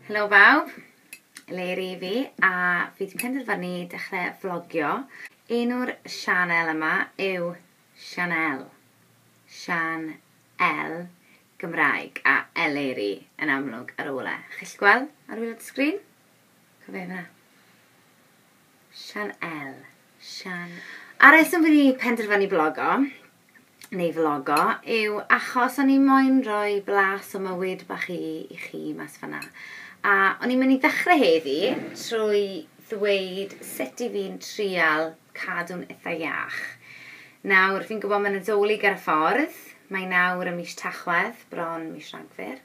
Helo bawb, Leri fi a fi wedi penderfynu dechrau vlogio. Enw'r sianel yma yw Sianel. Sian L Gymraeg a Eleri yn amlwg ar ôl e. Chi'n gallu gweld ar ôl y sgrin? Cofena. Sian El. Sian... A reswm fi wedi penderfynu blogo, neu vlogo, yw achos o'n i moyn rhoi blas o mywyd bach i, i chi mas fanna. A o'n i'n mynd i ddechrau heddi trwy ddweud sut i fi'n trial cadw'n itha iach. Nawr, fi'n gwybod mae Nadolig ar y ffordd, mae nawr ym mis Tachwedd, bron mis Rhagfyr,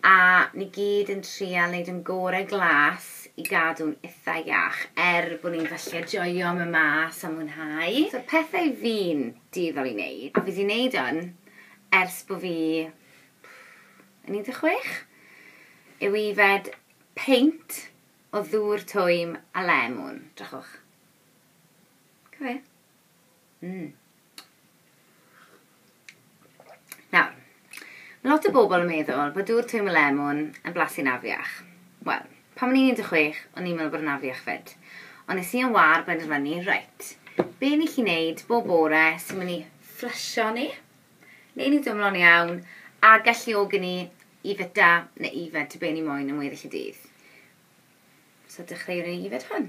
a ni gyd yn trial wneud yn gore glas i gadw'n itha iach, er bod ni'n falle joio mynd mas a mwynhau. So pethau fi'n dueddol i wneud, a fi 'di wneud hwn ers bod fi yn 16, yw yfed peint o ddŵr twym a lemwn. Drychwch. Cofio? Mm. Nawr, mae lot o bobl yn meddwl bod dŵr twym a lemwn yn blasu'n afiach. Wel, pan o'n i'n 16, o'n i'n meddwl bod yn afiach fyd. Ond nes i yn war benderfynu, reit, be ni chi wneud bob bore sy'n mynd i fflysio ni, neu ni dwmlo'n iawn, a galluogi ni Yfed da neu yfed tŷ be ni moyn am weddill y dydd. So dechreuwn ni yfed hwn.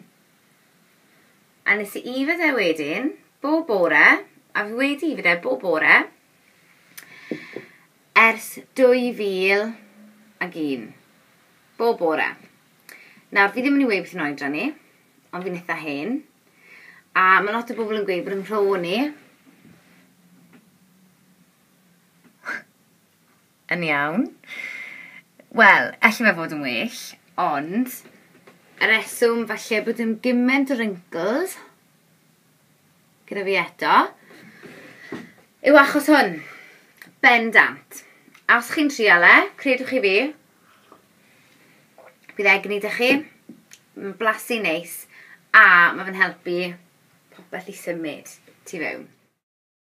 A nes i yfed e wedyn, bob bore, a fi wedi yfed e bob bore, ers 2001. Bob bore. Nawr, fi ddim yn ei weud beth yn oedran ni, ond fi'n eitha hen. A mae lot o bobl yn gweud bod yn rho ni, yn iawn. Wel, elli fe fod yn well, ond y reswm falle bod yn gyment o wrinkles gyda fi eto yw achos hwn. Bendant. A os chi'n trial e, credwch chi fi, bydd egni da chi. Mae'n blasu neis a mae fe'n helpu popeth i symud tu fewn.